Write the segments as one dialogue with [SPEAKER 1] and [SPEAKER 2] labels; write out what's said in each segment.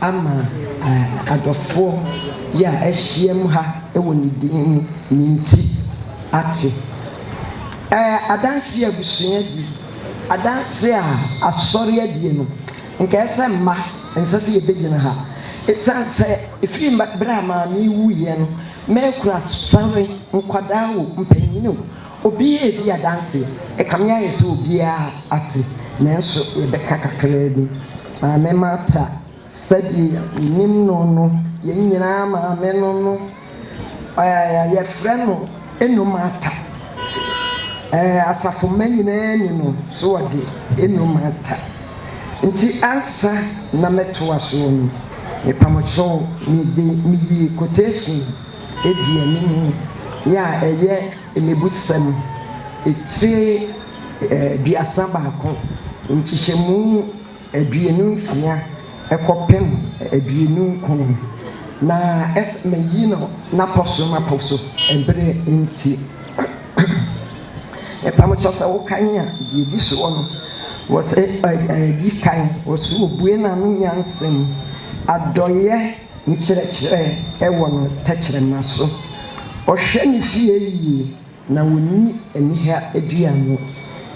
[SPEAKER 1] ama adɔfoɔ yi a ahyiam ha wɔ ne din mu no nti ate. Ɛɛ, adanseɛ a abusua di, adanseɛ a asɔre adie no, nka ɛsɛ sɛ mma ɛnsɛ sɛ yɛbɛgyina ha. Ɛsiane sɛ ɛfiri berɛ a maame yi wuiɛ no, mɛkura sɔre, nkwadaa o, mpanin o, Obi redi adanse. Ɛkame ayɛ sɛ obiara ate, nanso yɛbɛka kakraa bi. Maame Marta, sɛdeɛ yɛnim no no, yɛn nyinaa maame no no, ɛɛ, yɛfrɛ no Eno Marta. Ɛɛ, asafo mma nyinaa ni no, so wɔde Eno Marta. Nti ansa na mɛtoa soɔ no, mepamokyɛw, mede, meyi quotation. adi anim yɛ a ɛyɛ mmebusɛm tire aduasa baako, nkyekyɛmu aduonu nsia kɔpem aduonu nkron, na ɛsɛ mayi no n'apɔso m'apɔso bere nti. Mepa mo kyɛw sɛ wokan a deɛ ɛdi soɔ no, wɔsɛ ɛ, ɛ, di kan, wɔsɛ obue n'ano nyansam, adɔeɛ. nkyerɛkyerɛ wɔ no tɛkyerɛma so, ɔhwɛ ne fie yiye na onni aniha dua no.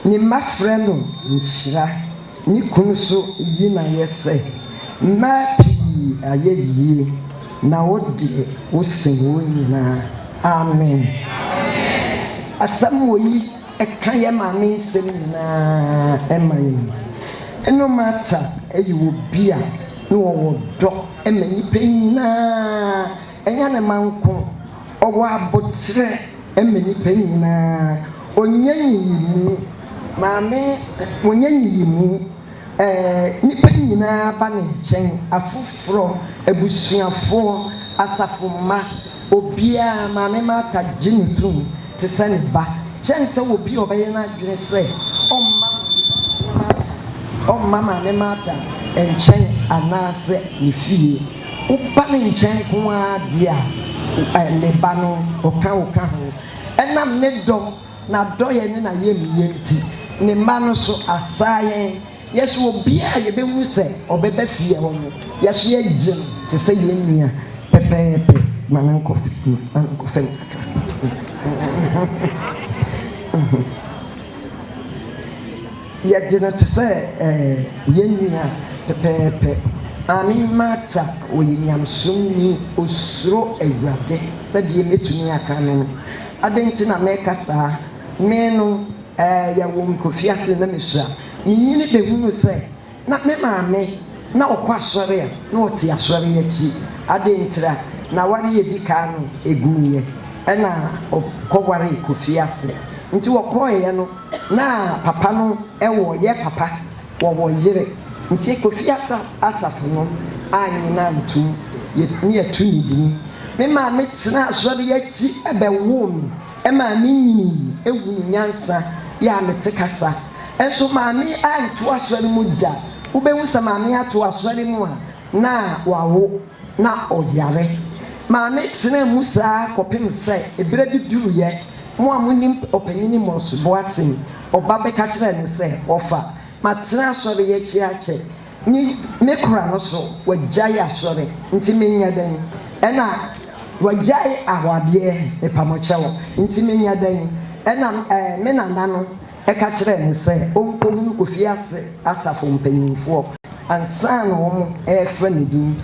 [SPEAKER 1] Ne mma frɛ no nhyira. Ne kunu nso yi no ayɛ sɛ, Mmaa pii ayɛ yiye, na wo deɛ, wosen wɔn nyinaa. Amen. Asɛm wɔ yi. Ɛka yɛn maame nsɛm nyinaa ma yɛn. Ɛno Martha yɛ obi a na ɔwɔ dɔ ma nnipa nyinaa, ɛnyɛ ne mma nko. Ɔwɔ aboterɛ ma nnipa nyinaa. Ɔnyɛ nyiyimu. Maame, ɔnyɛ nyiyimu. Nnipa nyinaa ba ne nkyɛn, afoforɔ, abusuafoɔ, asafo mma, obiara, Maame Martha gye no tom te sɛ ne ba, kyɛn sɛ obi a ɔbɛyɛ n'adwene sɛ ɔmma ɔmma Maame Martha nkyɛn anaasɛ ne fie. Woba ne nkyɛn nko ara deɛ a, ne ba no, ɔka wo ka ho. Ɛnam ne dɔ N'adɔeɛ ne n'ayɛmyɛ nti, ne mma no so asaa yɛn. Yɛso obiara a yɛbɛhunu sɛ ɔbɛba fie hɔ no, yɛso yɛgye no te sɛ yɛn nua pɛpɛɛpɛ. Ma no nkɔ ma no nkɔ fam kakra. Yɛgye no te sɛ ɛɛ yɛn nua pɛpɛɛpɛ. Maame Marta, ɔyɛ nyamesom ni, ɔsuro Awurade. Sɛdeɛ mɛtumi aka no no, Adɛn nti na meka saa? Me no, ɛɛ, yɛwoo me kɔfii ase na mesua. Menyini bɛhunuu sɛ na me maame na ɔkɔ asɔre a na ɔte asɔre yi akyi. Adɛn ntira? N'aware a ɛdi kan no, ɛguiɛ, ɛna ɔkɔwaree kɔfii ase. Nti ɔkɔeɛ no, na papa no wɔ yɛ papa. Wɔwɔ yere nti Kofi asafo no annyina antom yɛ ne yɛto ne dini. Me maame tenaa asɔre yi akyi bɛwoo me ɛmaa me nyinii ɛhunu nyansa yɛ a mete kasa. Nso maame anto asɔre mu da. Wobɛhu sɛ maame ato asɔre mu a na wawo. na ɔyare. Maame tenaa mu saa kɔpem sɛ berɛ bi duruiɛ, mo a monim Ɔpanyini Morse Boateng, ɔba bɛka kyerɛɛ no sɛ, Wɔfa matena asɔre yi akyi akyɛ me, me kora no so, wɔagyae asɔre, nti menyɛ dɛn? Ɛna wɔagyae ahoɔadeɛ, mepa mo kyɛw, nti menyɛ dɛn? Ɛna me nana no. Ɛka kyerɛɛ no sɛ ɔnkɔhunu ofie ase asafo mpanimfoɔ ansa na wɔrefrɛ ne din.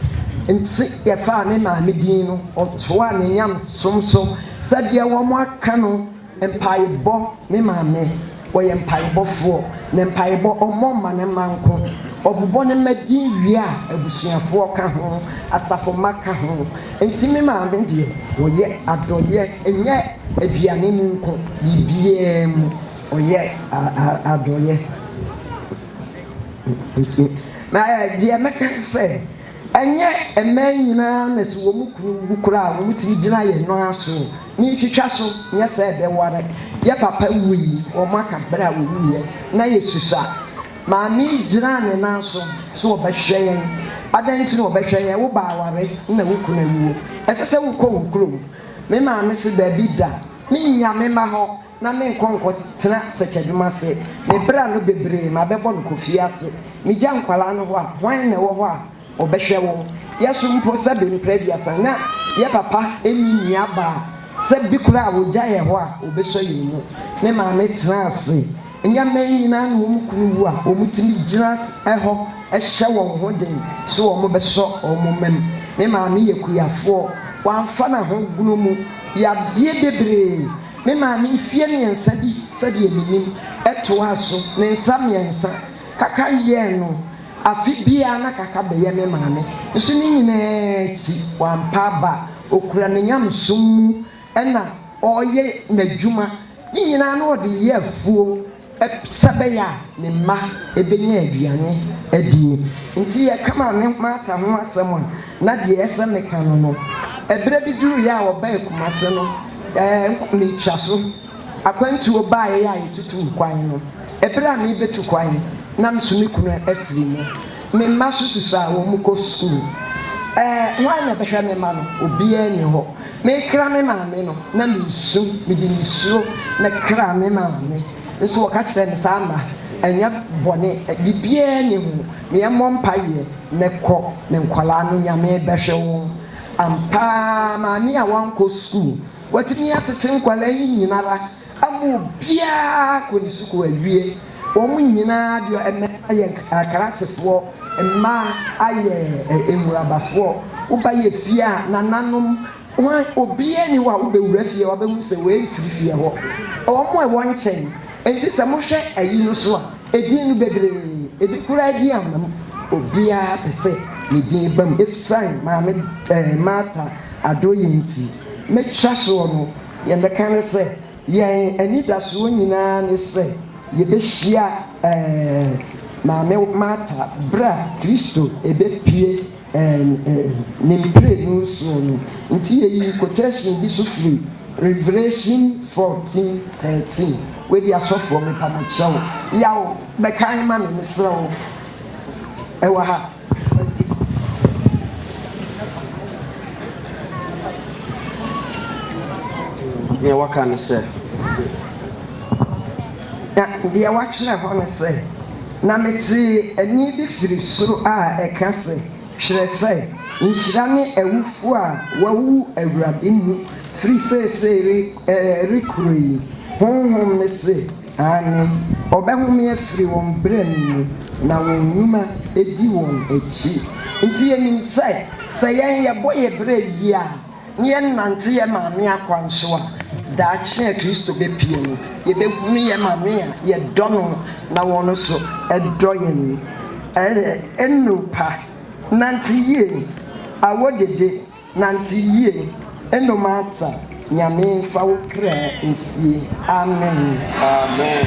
[SPEAKER 1] Enti yɛfaa me maame din no ɔtoaa ne nyamesom so sɛdeɛ wɔaka no mpaebɔ Me maame ɔyɛ mpaebɔfoɔ, ne mpaebɔ ɔmmɔ mma ne mma nko. Ɔbobɔ ne mma din wie a abusuafoɔ ka ho, asafo mma ka ho. Enti me maame deɛ ɔyɛ adɔyɛ ɛnyɛ aduane mu nko biribiara mu ɔyɛ adɔyɛ nti na deɛ mɛka ne sɛ ɛnyɛ mmaa nyinaa na sɛ wɔn kunu wu koraa wɔn tiri gyina yɛn nan aso metwitwa so nyɛ sɛ ɛbɛware yɛ papa wui wɔn aka berɛ a wɔwuiɛ na yɛsusa Maame yi gyinaa ne nan so sɛ ɔbɛhwɛ yɛn. Adɛn nti na ɔbɛhwɛ yɛn? Wo ba aware na wo kunu awuo. Ɛsɛ sɛ wokɔ wo kurom. Me maame se, Dabi da. Mennya me mma hɔ na menkɔ nkɔtena sɛkyɛdwuma ase. Me bra no bebree, mabɛbɔ no kɔ fie ase. Megya nkwadaa no hɔ a, hwan na ɛwɔ hɔ a? Ɔbɛhwɛ wo. Yɛsom mpo sɛ be mpra aduasa na yɛ papa nni nua baa sɛ be koraa wogya yɛ hɔ a obesɔ yɛn mu. Me maame tena ase nyɛ mɛn nyinaa na wɔn kunu wu a wɔn tumi gyina hɔ hyɛ wɔn ho den sɛ wɔn bɛsɔ wɔn mɛm. Me maame yɛ kuyafoɔ. Wamfa naho gono mu yadeɛ bebree. Me maame mfie mmiɛnsa bi sɛdeɛ menim ɛtoaa so ne nsa mmiɛnsa kaka yɛɛ no. Afe biara na Kaka bɛyɛ me maame nso ne nyinaa akyi wampa aba. Ɔkura ne nyamesom mu na ɔreyɛ n'adwuma. Ne nyinaa na ɔde yɛ afuo sɛbɛyɛ a ne mma bɛnya aduane adie. Nti yɛka maame Martha ho asɛm a na deɛ ɛyɛ sɛ meka no no. Ɛberɛ bi duruiɛ a ɔbae Kumase no, ɛɛ, mentwa so. Akwantuo baeɛ a yɛtutuu kwan no, ɛberɛ a merebɛtu kwan na me nso me kunu afiri mu. Me mma nso susua a wɔkɔ sukuu. Ɛɛ, hwan na ɛbɛhwɛ me mma no? Obiara nni hɔ. Merekra me maame no, na meresu, mede nisuo na ɛkraa me maame. Nso wɔka kyerɛɛ me sɛ, Amma, ɛnyɛ bɔne, biribiara nni ho, na yɛmmɔ mpaeɛ na kɔ ne nkwadaa no, Nyame bɛhwɛ wɔn. Ampa ara, maame a wankɔ sukuu Watumi atete nkwadaa yi nyinara ama obiara kɔ ne sukuu awie. Wɔn nyinaa deɔ mmarima yɛ akrakyefoɔ, mmaa ayɛ nwurabafoɔ. Woba yɛ fie a nananom wɔn obiara ni hɔ a wobɛwura fie a wabɛhu sɛ wei mfiri fie hɔ. Wɔn a ɛwɔ nkyɛn nti sɛ mohwɛ ayi no so a edin no bebree ebi koraa din amam. Obiara pɛ sɛ ne din bam efisane maame ɛɛ Martha Adoye nti. Mekyerɛ soɔ no, deɛ mɛka ne sɛ, yɛn anidasoɔ nyinaa ne sɛ yɛbɛhyia Maame Martha berɛ a Kristo rebɛpue Ne mprenu soɔ no. Nti yɛyii quotation bi nso firi Revelation fourteen thirteen, wei deɛ asɔfoɔ mepa mokyerɛ wo, yaw bɛkan ma me, mesrɛ wo, ɛwɔ ha. Deɛ wɔka ne sɛ, Na deɛ wɔatwerɛ hɔ ne sɛ, Na metee ɛnne bi firi soro a ɛka sɛ, Twerɛ sɛ, Nhyira ne awufoɔ a wɔawu Awurade mu firi seesei rekɔ yi. Honhom no se, Aane, wɔbɛhome afiri wɔn bra mu, na wɔn nnwuma di wɔn akyi. Nti yɛnim sɛ, sɛ yɛn yɛbɔ yɛn bra yie a, na yɛnante yɛn Maame akwan so a, daakye a Kristo bɛpue no, yɛbɛhunu yɛn Maame a yɛdɔ no na ɔno nso dɔ yɛn. Ɛyɛ nnurpa, nante yie, awodede. Nante yie ɛno mata Nyame nfa wo kra nsie Amen. Amen.